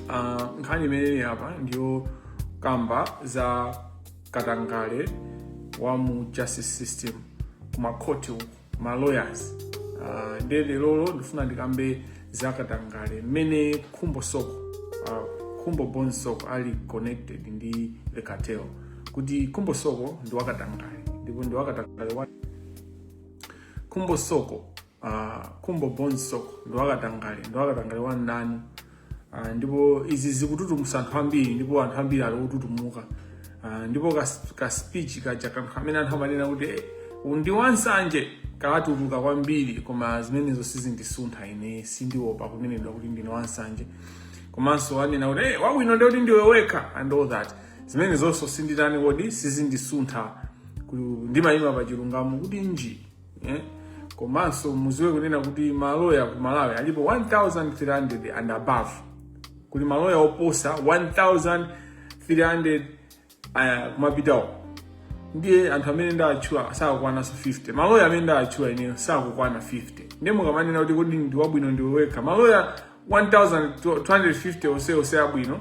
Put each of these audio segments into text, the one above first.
Ah, nkhani imeneyi apa ndiyo kamba za katangale wa mu justice system kumakhoti uku ma lawyers Ah, nde lerolo ndifuna ndikambe za katangale. mmene khumbo soko ah, khumbo bon soko ali connected ndi the cartel kuti khumbo soko ndi wakatangale ndipo ndi wakatangale wa khumbo soko uh, khumbo bon soko ndi wakatangale ndi wakatangale wa nanu uh, ndipo izi zikututumusa anthu ambiri ndipo anthu ambiri ali otutumuka uh, ndipo ka, ka speech kaja ka anthu amene anthu amanena kuti eh, ndi wansanje katuluka kwambiri koma zimenezo sizindisuntha ine sindiopa kunenedwa kuti ndine wansanje komanso wanena kuti hey, wabwino ndi kuti ndiwe wekha and all that zimenezonso sinditani kodi sizindisuntha ku- ndimayima pa chilungamo kutchinji eh? komanso muziwe kunena kuti maloya ku malawi alipo 1300 and above kuli maloya oposa 1300 uh, kumapitawo ndiye anthu amene ndawatchula sakukwananso 50 maloya amene ndawatchula ineyo sakukwana 50 ndiye mukamanena kuti kodi ndi wabwino ndiwe wekha maloya 1250 onsewo ndi abwino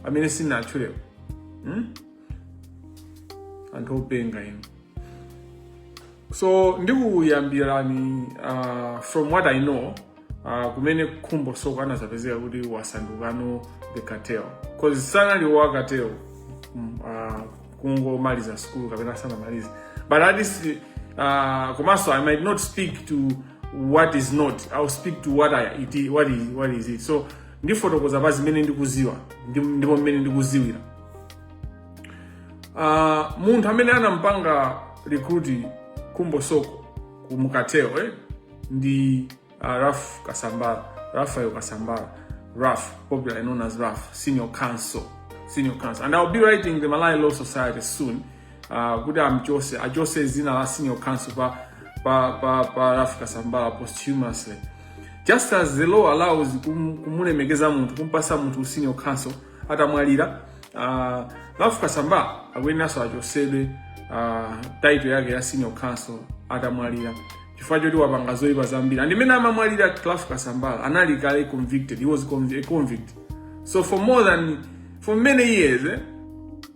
amene sinatchulewo hmm? anthu openga inu so ndikuyambirani uh, from what i know uh, kumene khumbo soko anazapezeka kuti wasandukano the cartel cause sanali wa cartel mm, uh, kungomaliza school kapena sanamalize but at least uh, komanso i might not speak to what is not i'll speak to what, I, it, is- what, is, what is it so ndifotokoza pa zimene ndikuziwa ndi- ndipo mmene ndikuziwira uh, munthu amene anampanga recruit khumbo soko ku- mu cartel eh? ndi uh, Ralph Kasambara, Raphael Kasambara, Ralph, popularly known as Ralph, senior counsel, senior counsel. And I'll be writing the Malai Law Society soon. Uh, kuti amchose achose zina la senior counsel pa, pa, pa, pa Ralph Kasambara posthumously. Just as the law allows kum- kumulemekeza munthu kumpasa munthu senior counsel atamwalira uh, Ralph Kasambara akuyeneranso achosedwe uh, title yake ya senior counsel atamwalira chifukwa choti wapanga zoipa zambiri and mmene amamwalira Ralph Kasambara anali kale convicted he was conv a convict so for more than for many years eh,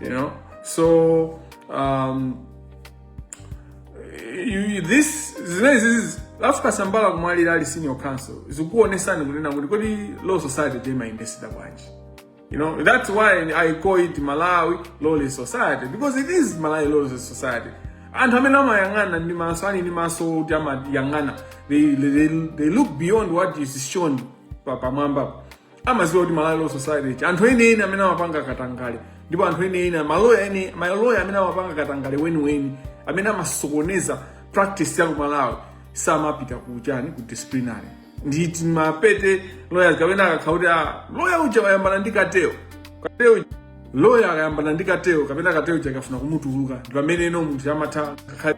You know, so um, you, this zimenezizi a Ralph Kasambara kumwalira ali senior counsel zikuonesani kunena kuti kodi law society imayendesedwa bwanji you know that's why i call it malawi lawless society because it is malawi lawless society anthu amene amayang'ana ndi maso ali ndi maso oti amayang'ana they, they, they look beyond what is shown pa- pamwambapo amaziwa kuti malawi law society anthu eni eni amene amapanga katangale ndipo anthu eni eni maloya eni maloya amene amapanga katangale weniweni amene amasokoneza practice ya kumalawi samapita kuchani ku disciplinary ndi tima petty lawyers kapena akakhala kuti ah, lawyer uja wayambana ndi cartel cartel lawyer akayambana ndi cartel kapena cartel uja akafuna kumutuluka ndi pamene eno munthu amatha ngakhale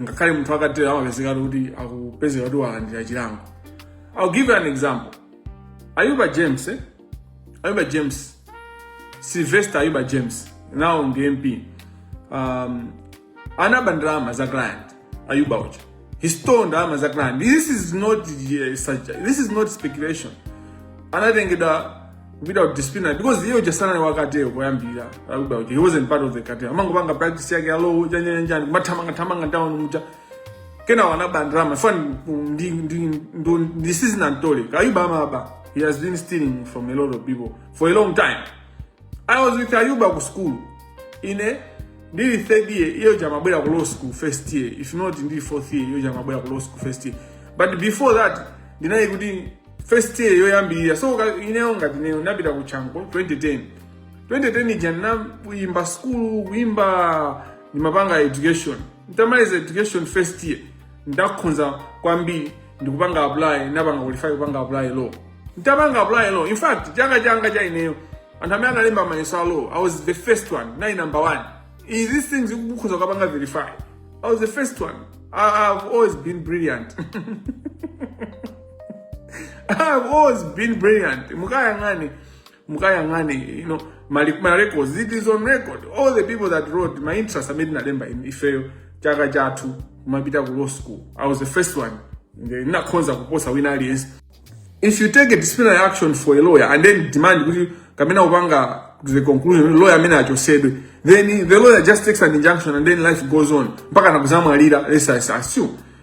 ngakhale munthu wa cartel amapezeka kuti akupezeka kuti walandira chilango I'll give you an example. Ayuba James, eh? Ayuba James, Sylvester Ayuba James, now on the MP, um, anaba ndalama za client Ayuba uja. He stole ndalama za client. This is not uh, such, this is not speculation. Anatengedwa without discipline because hiyo uja sana wakateo koyambira Ayuba uja. He wasn't part of the cartel. Amangopanga practice yake alo uja nyanyanjani kumathamanga thamanga town muja. kenawo anaba ndalama fani ndi ndi ndi ndi sizina ntole ka ayuba amaba he has been stealing from a lot of people for a long time i was with ayuba ku school ine ndili third year iyo uja amabwera ku law school first year if not ndili fourth year iyo uja amabwera ku law school first year but before that ndinali kuti first year yoyambirira so ka- ineyo ngati ineyo ndinapita ku chanco 2010 2010 ija ndinayamba school kuyamba ndimapanga education ntamaliza education first year ndakhonza kwambiri ndikupanga apply napanga qualify kupanga apply law ntapanga apply law in fact chaka changa cha ineyo anthu amene analemba mayeso a law i was the first one nali number one Is these things mukhoza kukapanga verify i was the first one I, i've always been brilliant I've always been brilliant. Mukayang'ani, mukayang'ane you know mali- ma records it is on record all the people that wrote my entrance amene tinalemba in- ifeyo chaka chathu kumapita ku law school i was the first one Nde- ndinakhonza kuposa wina aliyense if you take a disciplinary action for a lawyer and then demand kuti kapena upanga to the conclusion kuti lawyer amene achosedwe then the lawyer just takes an injunction and then life goes on mpaka nakuzamwalira let's assume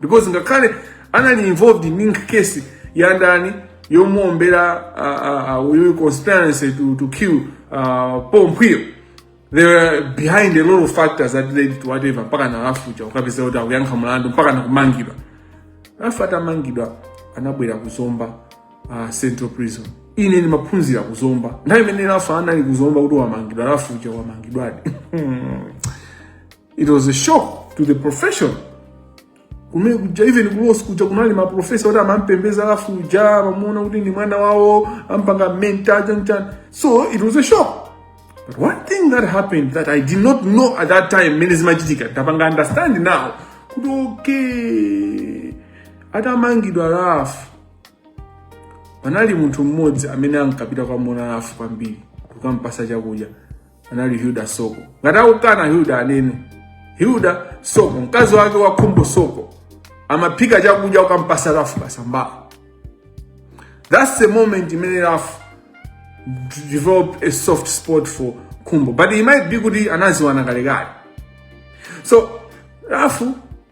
because ngakhale anali involved in case ya ndani yomuombera uh, uh, uyu conspiracy to, to kill uh, Paul Mphwiyo they were behind a lot of factors that led to whatever mpaka na Ralph uja kukapezeka kuti akuyankha mlandu mpaka nakumangidwa Ralph atamangidwa anabwera kuzomba uh, central prison ine ndimaphunzira kuzomba nthawi imene Ralph anali kuzomba kuti wamangidwa Ralph uja wamangidwadi it was a shock to the profession kumene kuja even ku law school kuja kunali maprofesa oti amampembeza Ralph uja amamuona kuti ndi mwana wawo ampanga mentor chani chani so it was a shock but one thing that happened that i did not know at that time mmene zimachitika ndapanga understand now kuti okay atamangidwa Ralph panali munthu mmodzi amene ankapita kukamuona Ralph kwambiri kukampasa chakudya anali Hilda Soko. Ngati akukana Hilda anene Hilda Soko, mkazi wake wa Khumbo Soko amaphika chakudya n'kukampasa Ralph Kasambara. That's the moment imene Ralph developed a soft spot for Khumbo, but it might be kuti anaziwana kalekale. So Ralph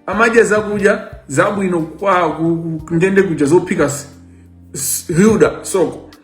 amadya zakudya zabwino kwa ku- ku- ndende kuja zophika s- s- Hilda Soko.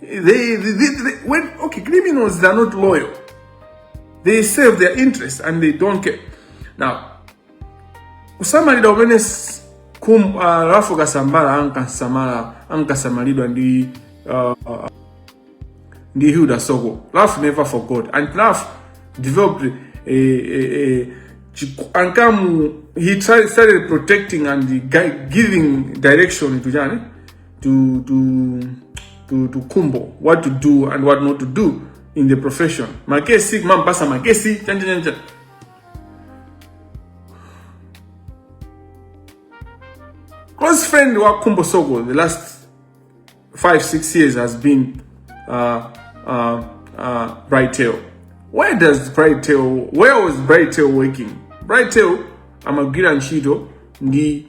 They, they, they, they, when, okay, criminals, they are not loyal. They serve their interests and they don't care. Now, kusamalidwa umene s- kum, uh, Ralph Kasambara ankasamala ankasamalidwa ndi uh, ndi Hilda Soko. Ralph never forgot and Ralph developed a, a, a chiku- ankamu he tried, started protecting and gui- giving direction to Jane to to to to kumbo what to do and what not to do in the profession makesi kumamupasa makesi chanjanjanja close friend wa kumbo sogo the last five six years has been uh, uh, uh, bright tail where does bright tail where was bright tail working bright tail amagwira ntchito ndi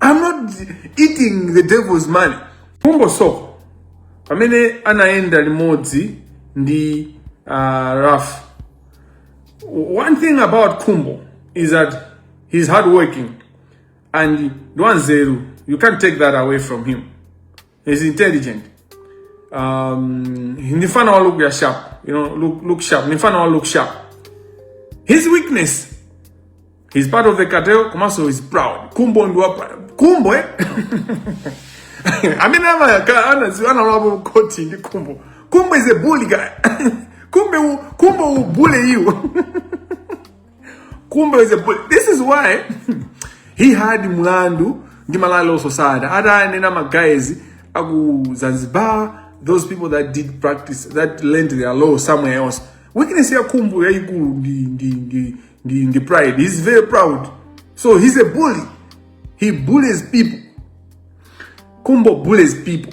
I'm not eating the devil's money. Kumbo Soko pamene anayenda limodzi ndi uh, Raf. One thing about Kumbo is that he's hardworking and Dwanzeru, you can't take that away from him. He's intelligent. Um, ni fan wa look ya sharp. You know, look, look sharp. Ni fan wa look sharp. His weakness. He's part of the cartel. Komaso is proud. Kumbo ndo hapa. Kumbo eh? I mean, I'm a, I'm a, I'm a, I'm koti ndi kumbo. Kumbo is a bully guy. kumbe, kumbo u bully you. Khumbo is a bully. This is why he had mlandu ndi Malawi Law Society. Atanena ma guys aku Zanzibar, those people that did practice, that learned their law somewhere else. Weakness ya Khumbo yaikulu ndi ndi ndi ndi ndi pride. He's very proud. So he's a bully. He bullies people. Khumbo bullies people.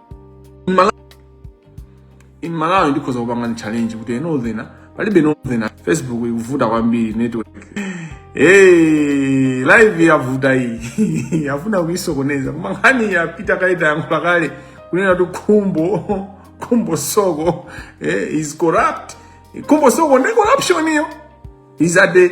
in malawi in malawi ndikhoza kupanga challenge kuti enothena palibe enothena facebook ikuvuta kwambiri network Hey, live yavuta iyi akufuna kuisokoneza koma nkhani yapita kale tayankhula kale kunena kuti khumbo khumbo soko eh, is corrupt khumbo soko ndi corruption iyo is at the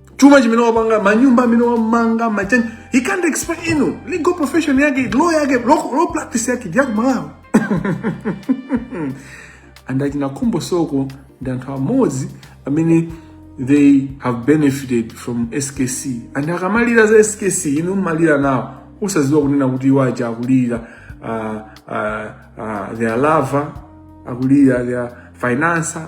chuma chimene wapanga manyumba amene wamanga machani he can't explain you know, legal profession yake law yake law, law practice yake ndiyaku malawi and achina khumbo soko ndi anthu amodzi amene they have benefited from skc and akamalira za skc inu mumalira nawo osaziwa kunena kuti iwo aja akulira uh, uh, uh, their lover akulira their financer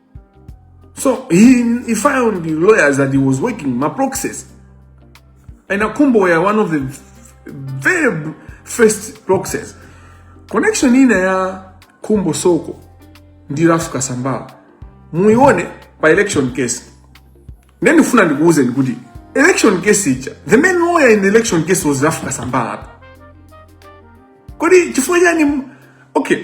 So he, he found the lawyers that he was working, my proxies. And Akumbo were one of the very first proxies. Connection ina ya Kumbo Soko ndi Ralph Kasambala. Muione pa election case. Neni funa ndikuuze ndikuti election case icha. The main lawyer in the election case was Ralph Kasambala. Kodi chifukwa chani okay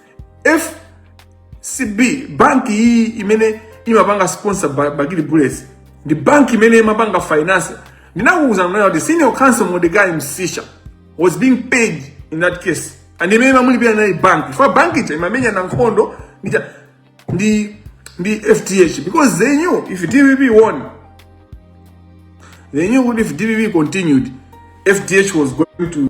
fcb banki iyi imene imapanga sponsor Ba- bakili bullets ndi banki imene imapanga finance ndinakuwuzani kunena kuti senior counsel mordecai msisha was being paid in that case and imene imamulipira inali banki chifukwa banki ija imamenyana nkhondo ndi cha- ndi ndi fdh because they knew if dpp won they knew kuti if dpp continued fdh was going to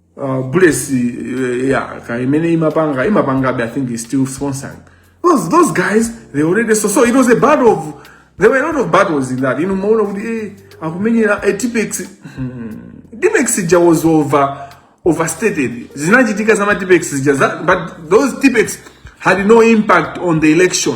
uh, bullets uh, yeah kaya imene imapanga imapangabe i think is still sponsoring those, those guys they already so, so it was a battle of there were a lot of battles in that inu maona kuti eh, akumenyera eh, tipex tipex ija was over overstated zinachitika za matipex zija za- but those tipex had no impact on the election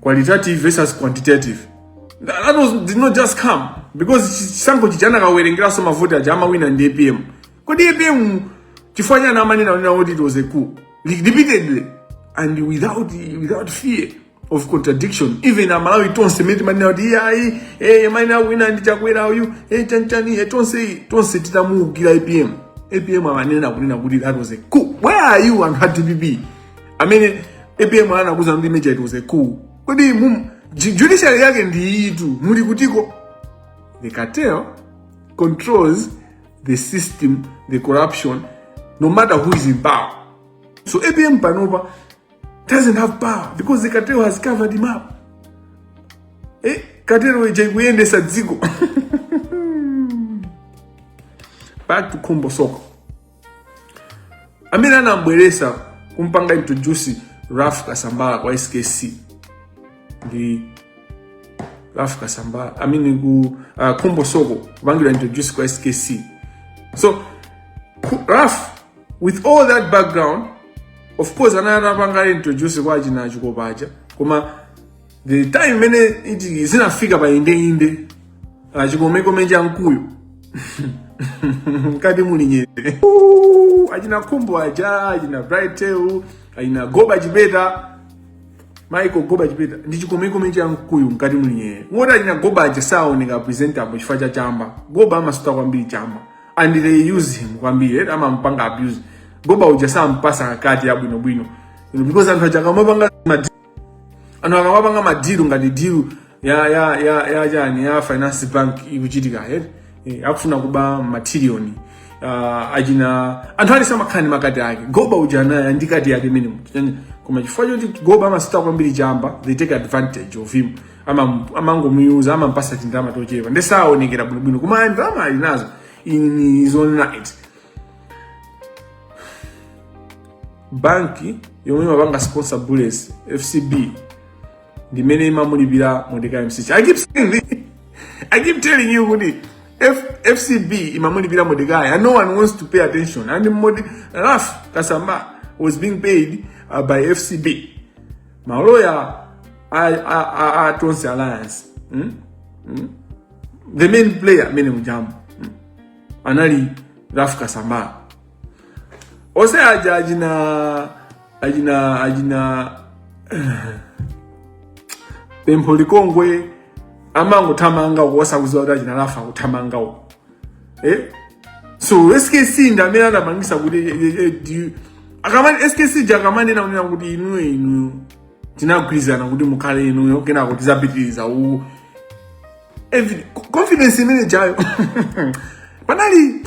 qualitative versus quantitative that, that was, did not just come because chisankho chija anakawerengeranso mavoti aja amawina ndi apm kodi apm chifukwa chani amanenanena kuti it was a coup repeatedly and without, without fear of contradiction even amalawi tonse amene timanena kuti iye ayi eh, mwina anawina ndi chakwera uyu eh, chanchani eh, tonse tonse titamuukira apm apm amanena kunena kuti that was a coup where are you and dpp amene apm anakuuzani kuti mmuja it was a coup kodi mum- ju- judiciary yake ndi iyitu muli kuti ko the cartel controls the system the corruption no matter who is in power so apm panopa doesn't have power because the cartel has covered him up eh, cartel ija ikuyendesa dziko back to khumbo soko amene anambweresa kumpanga introduce raf kasambala kwa skc ndi raf kasambala amene ku uh, khumbo soko kupangidwa introduce kwa skc so ku- raf with all that background of course anali atapanga introduce kwa achina achikopa aja koma the time imene ija zinafika pa indeinde chikomekome cha mkuyu mkati muli nyerere Ooh, achina khumbo aja achina brightel achina goba chipeta maiko goba chipeta ndi chikomekome cha mkuyu mkati muli nyerere woti achina goba aja saoneka presentable chifukwa cha chamba goba amasuta kwambiri chamba and they use him kwambiri eti amampanga abuse goba uja sampasa kati ya bwino bwino You know, because anthu aja akamapanga madi- anthu akamapanga madiru ngati diru ya ya ya ya chani ya finance bank ikuchitika eti Eh, akufuna kuba matiriyoni uh, achina anthu ali amakhala ndi makati ake goba uja naye ndi kati yake minimum koma chifukwa choti goba amasuta kwambiri chamba they take advantage of him Ama- amangomuyuza amampasa tindalama tochepa ndi saonekera bwinobwino koma ndalama ali nazo in his own right banki yomwe imapanga sponsor bullets fcb ndimene imamulipira mordecai msiska i keep saying this i keep telling you kuti F, fcb imamulipira mordecai and no one wants to pay attention and Morde, raf kasambala was being paid uh, by fcb maloya a, a, a, a tonse alliance mm? Mm? the main player amene mujambo mm? anali raf kasambala onse aja achina achina achina pempho likongwe amangothamanga uko osaziwa kuti achina raf akuthamanga uko eh so skc ndamene anapangisa kuti eh, eh, eh, do you- akamani skc uja akamanena amanena kuti inuyo inuyo tinagwirizana kuti mukhale inuyo kenako tizapitiriza u every- co- confidence imene ijayo panali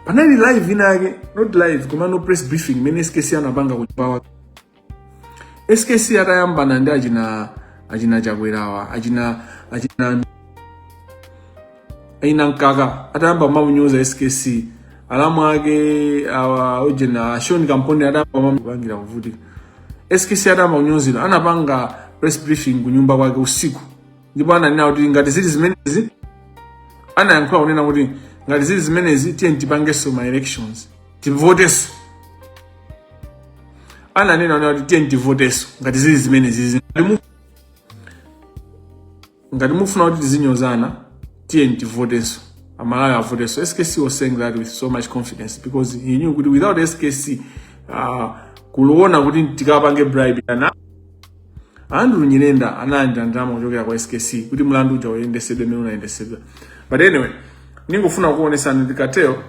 panali live inake not live koma no press briefing imene skc anapanga ku chipawa skc atayambana ndi achina achina chakwerawa achina achina achina mkaka atayamba kumunyoza skc alamu ake awa ujena shoni kampondeni atayamba kumupangira kuvutika skc atayamba kunyozedwa anapanga press briefing kunyumba kwake usiku ndipo ananena kuti ngati zili zimenezi anayankhula kunena kuti ngati zili zimenezi tiye tipangenso ma elections tivoteso ananena okha kuti tiyeni tivoteso ngati zili zimenezi ngati mufuna kuti tizinyozana tiyeni tivoteso amalawi avoteso skc was saying that with so much confidence because he knew kuti without skc uh, kuliona kuti tikapange bribe anadya andrew nyirenda analandira ndalama kuchokera kwa skc kuti mlandu uja uyendesedwe mmene unayendesedwa but anyway ningofuna kuonesani ndi katero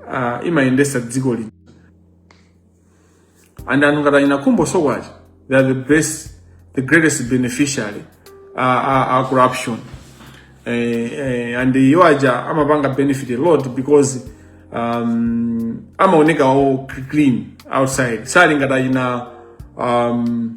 uh, imayendesa dziko lino and anthu ngati achina khumbo soko aja they are the best the greatest beneficiary uh, uh, uh, corruption eh, eh, and iwo aja amapanga benefit a lot because um, amaoneka a clean outside sali ngati achina um,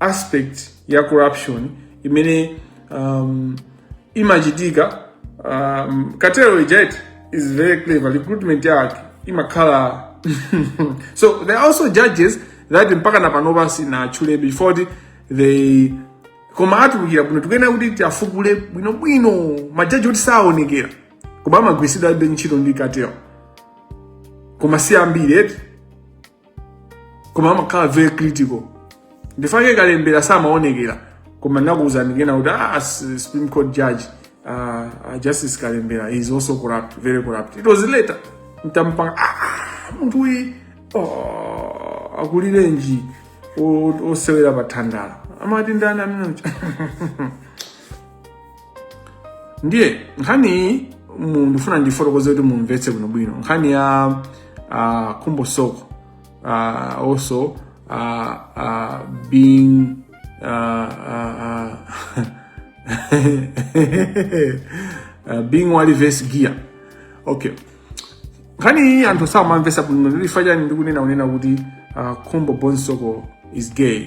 aspect ya corruption imene um, imachitika um, katero ijeti is very clever recruitment yake imakhala so there are also judges that mpaka na panopa sindinatchule before the- they koma atulukira bwino tikuyenera kuti tiafukule bwinobwino majaji oti saonekera koma amagwiritsidwabe ntchito ndi katero koma si ambiri eti koma amakhala very critical ndichifake kalembera samaonekera koma ndakuwuzani kunena kuti ah, supreme court judge uh, justice kalembera is also corrupt very corrupt it was later ntampanga ah, munthu uyi oh, akulirenji osewera pathandala amati ndani amene ndiye nkhani iyi mu- ndifuna ndifotokoze kuti mumvetse bwinobwino nkhani ya uh, khumbo soko uh, also uh, uh, being uh, uh, uh, being wa lives gay okay nkhani iyi anthu samamvesa bwino ndichifachani ndikunena kunena kuti uh, khumbo bonzoe soko is gay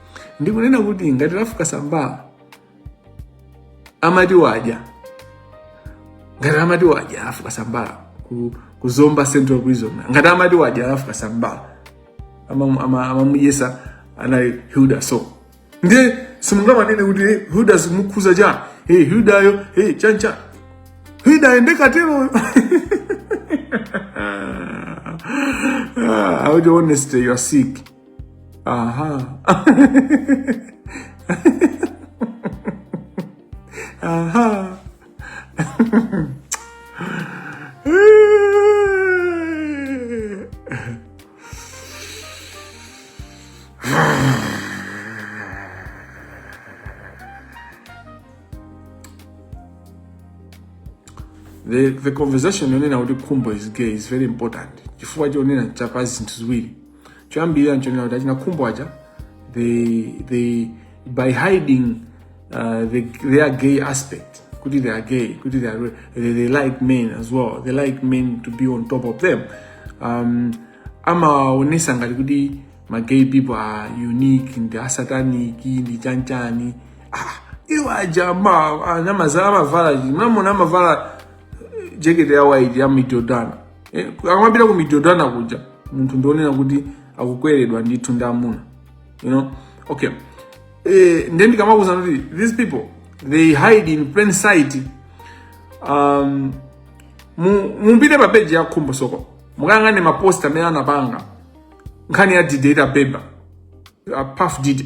ndikunena kuti ngati lafuka sambala amati wadya ngati amati wadya lafuka sambala ku, ku zomba central prison ngati amati wadya lafuka sambala amamuyesa ama, ama anali hilda so ndiye simungamanene kuti hey, hilda zimukhuza chani hey, hildayo hey, chancha hilda ndi kateroyo Ah, I would honestly, you're sick. Aha. Aha. the, the conversation yonena kuti khumbo is gay is very important chifukwa chonena cha zinthu ziwiri choyambirira nchonena kuti achina khumbo aja they, they, by hiding uh, the, their gay aspect kuti they are gay kuti they, are, they, they like men as well they like men to be on top of them um, amaonetsa ngati kuti ma gay people are unique ndi asatanic ndi chanichani ah, iwo aja ma- anyamazala amavala chi- mmene amavala jekete ya waiti ya amadodana eh, akamapita ku madodana kuja munthu ndionena kuti akukweredwa ndithu ndi amuna you know okay eh, ndiye ndikamakuuzani kuti these people they hide in plain sight um, mu- mupite pa page ya khumbo soko mukayang'ane mapost amene anapanga nkhani ya didate abeba a Puff Diddy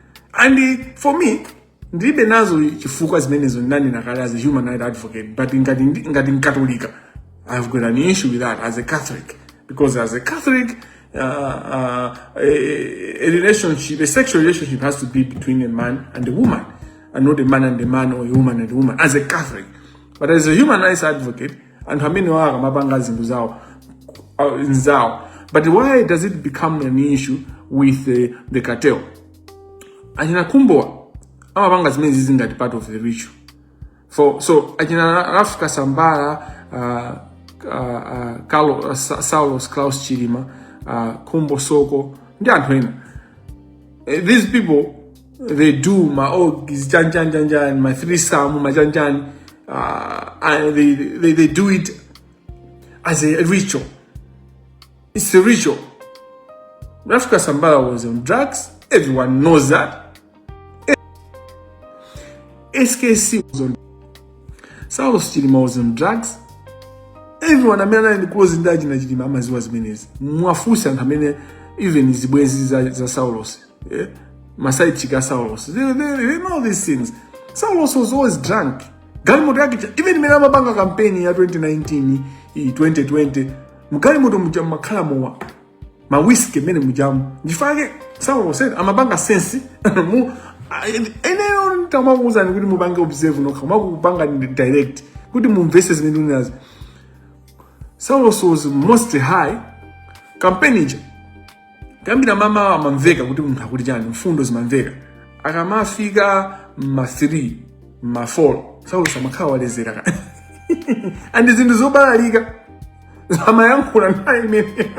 and eh, for me ndilibe nazo chifukwa zimenezo ndinanena kale as a human right advocate but ngati ndi- ngati mkatolika i have got an issue with that as a catholic because as a catholic uh, uh, a, a relationship a sexual relationship has to be between a man and a woman and not a man and a man or a woman and a woman as a catholic but as a human rights advocate anthu amenewa akamapanga zinthu zawo uh, nzawo but why does it become an issue with uh, the cartel achina Khumbowa amapanga zimenezizi ngati part of the ritual for so achina Ralph Kasambara uh, uh, uh, Carlo, uh, Sa- saulos klaus chilima uh, Khumbo Soko ndi anthu ena Eh, these people they do ma oh chani chani chani chani ma threesome ma chani chani uh, I, they, they they do it as a ritual it's a ritual Ralph Kasambara was on drugs everyone knows that SKC was on Saulos Chilima was on drugs everyone amene anali ndi close ndi achina Chilima amadziwa zimenezi muwafunse anthu amene even zibwenzi za, za Saulos Yeah? Ma side chick Saulos. They, they, they know these things. Saulos was always drunk. Galimoto yake even mmene amapanga kampeni ya 2019 ya 2020 mgalimoto muja mumakhala mowa ma whiskey m'menemujamu nchifukwa chake Saulos samapanga sense mu eneyo nitamakuuza kuti mupange observe nokha makupanga direct kuti mumvese zimene unazo Saulos was mostly high campaign ija kuyambira mamawa amamveka kuti munthu akuti chani mfundo zimamveka akamafika ma 3 ma 4 skc amakhala waledzera kale and zinthu zobalalika amayankhula nthawi imene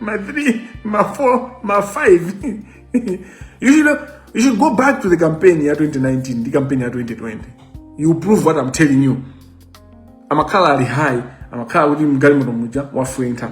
ma 3 ma 4 ma 5 you should, you should go back to the campaign ya 2019 ndi campaign ya 2020 you prove what i'm telling you amakhala ali high amakhala kuti mgalimoto muja wafwenkha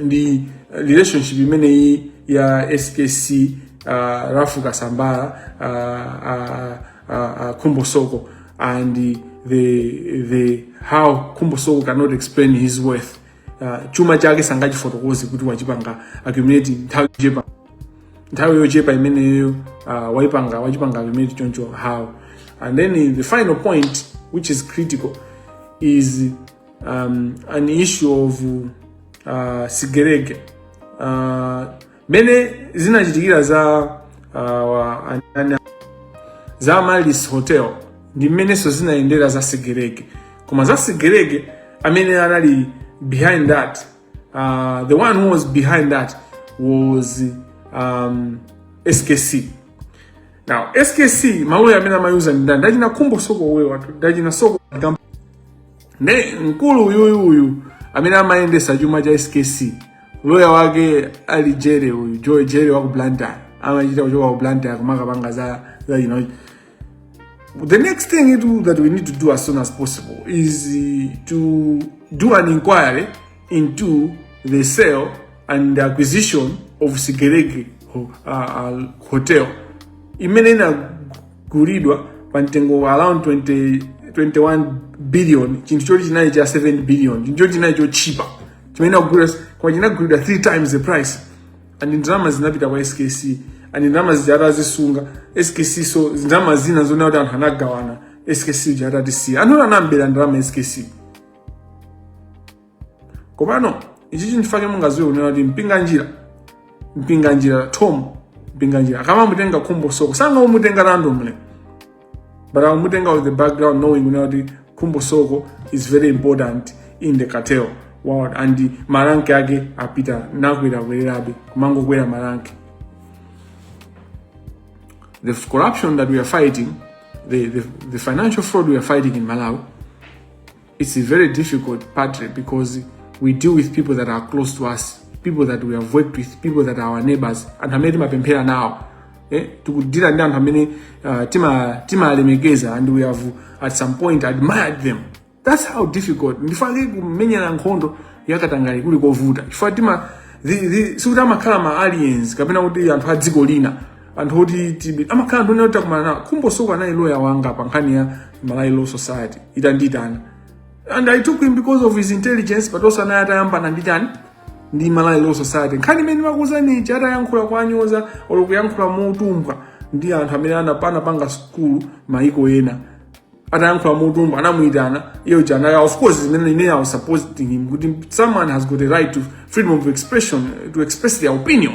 ndi relationship imeneyi ya skc uh, ralph kasambara uh, uh, uh, uh, khumbo soko and the, the how khumbo soko cannot explain his wealth uh, chuma chake sangachifotokoze kuti wachipanga accumulate nthawi yochepa nthawi yochepa imeneyo uh, waipanga wachipanga accumulate choncho how and then the final point which is critical is um, an issue of uh, sigelege uh, mene zinachitikira za uh, anani- za amaryllis hotel ndi mmenenso zinayendera za sigelege koma za sigelege amene anali behind that uh, the one who was behind that was um, skc now skc maloya amene amayuza ndi ndani ndachina khumbo soko wewa ndachina soko ne mkulu uyuyu uyu amene amayendesa chuma cha skc loya wake ali jere uyu joe jere waku blantyre amachita kuchoka ku blantyre kumakapanga za za you know the next thing itu that we need to do as soon as possible is uh, to do an inquiry into the sale and the acquisition of sigelege ho- uh, uh, hotel imene kugulidwa pa mtengo wa around 20, 21 billion chinthu choti chinali cha 7 billion chinthu choti chinali chochipa chimene chikugulidwa koma chinagulidwa 3 times the price and ndalama zinapita kwa skc and ndalama zija anazisunga skc so ndalama zina zona kuti anthu anagawana skc uja atatisiya anthu anambera ndalama skc komano ichi chinthu chake mungaziwe kunena kuti mpinganjira mpinganjira thom mpinganjira akamamutenga khumbo soko sakumutenga randomly but akumutenga with the background knowing kunena kuti khumbo soko is very important in the cartel world and maranki ake apita nakwerakwerabe kumangokwera maranki the corruption that we are fighting the, the, the financial fraud we are fighting in malawi It's a very difficult part because we deal with people that are close to us, people that we have worked with, people that are our neighbors. Anthu amene timapemphera nawo eh? tikudila ndi anthu amene uh, tima- timalemekeza and we have at some point admired them. That's how difficult. Nchifukwa chake kumenyana nkhondo yakatangale kuli kovuta. Chifukwa tima the- the- sikuti amakhala ma aliens kapena kuti anthu a dziko lina anthu oti tibi amakhala anthu onena kuti takumana nawo khumbo soko anali loya wanga pa nkhani ya malawi law society itandiitana and i took him because of his intelligence but also anali atayambana ndi chani ndi malawi law society nkhani imene ndimakuuzani ija atayankhula monyoza olo kuyankhula motumbwa ndi anthu amene anapa- anapanga sukulu maiko ena atayankhula motumbwa anamuyitana iye janaya of course zimene ine i was supporting him kuti someone has got a right to freedom of expression to express their opinion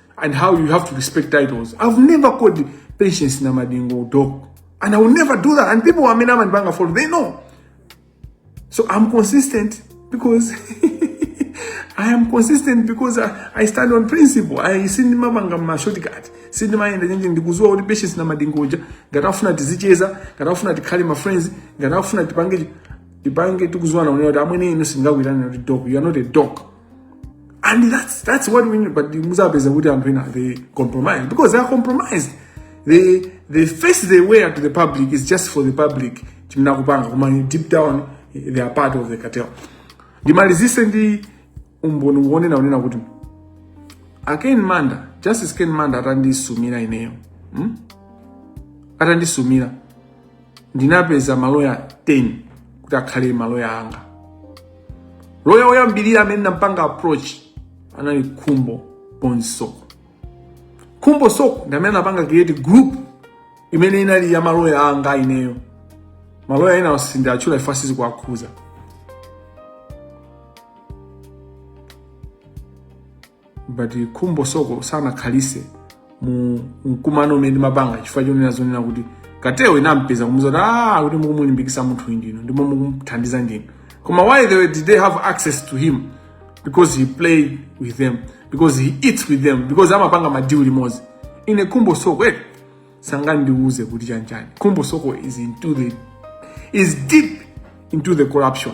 and how you have to respect titles. I've never called Patience Namadingo dog. And I will never do that. And people who are Mina and Banga for they know. So I'm consistent because I am consistent because I, I stand on principle. I sindima manga ma shortcut. Sindima yenda nyenje ndikuzuwa kuti patience na madingoja. Ngati afuna tizicheza, ngati afuna tikhale ma friends, ngati afuna tipange tipange tikuzuwa na unena kuti amwene inu singakwirana kuti dog. You are not a dog. and that's that's what we need but muzapeza kuti anthu ena they compromise because they are compromised they they face they wear to the public is just for the public chimene akupanga koma deep down they are part of the cartel ndimalizise ndi umboni wonena kunena kuti a ken manda justice ken manda atandisumira ineyo hmm? atandisumira ndinapeza maloya 10 kuti akhale maloya anga loya woyambirira amene nampanga approach anali khumbo bonzoe khumbo soko ndi amene anapanga create group imene inali ya maloya anga ineyo maloya ena sindiwatchula chifukwa sizikuwakhudza but khumbo soko sanakhalise mu mkumano umene ndimapanga chifukwa chonena kunena kuti kateloyo inampeza kumuuza kuti ah kuti mukumulimbikisa munthu ndinu ndipo mukumuthandiza ndinu koma why they, did they have access to him because he plays with them because he eats with them because amapanga madilu limodzi ine khumbo soko eh, sangandiuze kuti chanchani khumbo soko is into the is deep into the corruption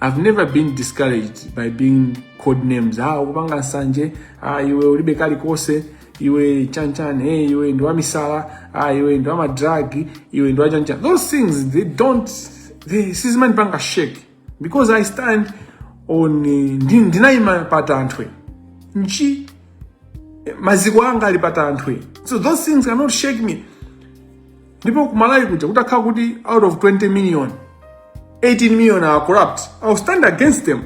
I've never been discouraged by being code names. Ah, ukupanga nsanje, ah, iwe ulibe kalikose, iwe chanchan, hey, eh, iwe ndo wamisala, ah, iwe ndo wamadragi, iwe ndo wachanchan. Those things, they don't, they, sizimani panga shake. Because I stand on, eh, ndinaima pata antwe. Nchi, eh, maziko anga alipata antwe. So those things cannot shake me. ndipo kumalawi kuja kutakhala kuti out of 20 million 18 million are corrupt i'll stand against them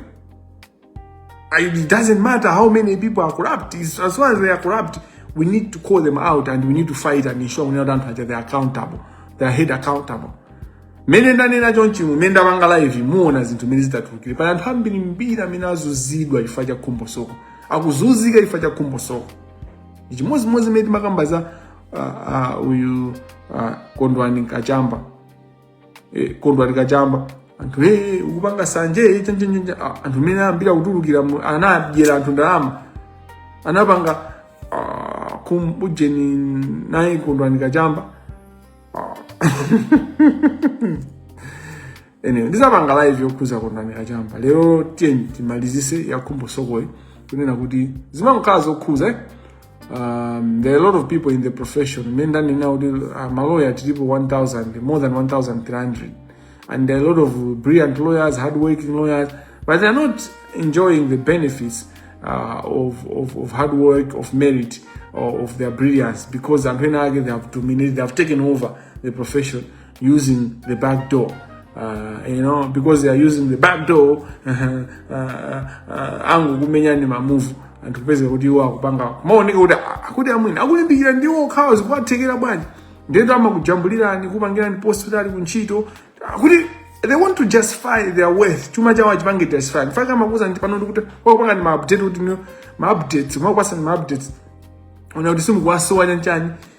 it doesn't matter how many people are corrupt it's, as long as they are corrupt we need to call them out and we need to fight and ensure we know that they are accountable they are held accountable mmene ndanena chonchi mmene ndapanga laivi muona zinthu mmene zitatulukire pali anthu ambirimbiri amene azunzidwa chifukwa cha khumbo soko akuzunzika chifukwa cha khumbo soko ndi chimodzimodzi mmene timakamba za ah, uh, uyu uh, kondwani nkachamba eh, kondwani kachamba anthu hey, eh, ukupanga sanje hey, eh, chenje, chenje. Ah, anthu mene ambira kutulukira anadyera anthu ndalama anapanga uh, kumbujeni naye kondwani kachamba uh. anyway ndizapanga live yokhuza kondamina chamba lero tiyeni timalizise ya Khumbo Sokoyi kunena kuti zimangokhala zokhuza eh? um, there are a lot of people in the profession mmene ndanena kuti uh, maloya tilipo 1000 more than 1300 and there are a lot of brilliant lawyers hardworking lawyers but they are not enjoying the benefits uh, of, of, of hard work of merit or of their brilliance because anthu ena ake they have dominated they have taken over the profession using the back door. Uh, you know because they are using the back door uh, uh, uh, angokumenya ni mamuvu anthu kupeza kuti iwo akupanga amaoneka kuti a- akuti amwenewa akulimbikira ndiwo okhawo zikuwathekera bwanji ndiye ndi amakujambulirani kupangirani post kuti ali kuntchito akuti they want to justify their worth chuma chawo achipange justify mfaka amakuuza ndili pano ndikuti wakupanga ni maupdate kuti ni maupdates mwakukwasa ni maupdates ona kuti simukuwasowa chanchani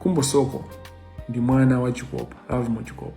Khumbo Soko ndi mwana wa Chikopa, Lovemore Chikopa.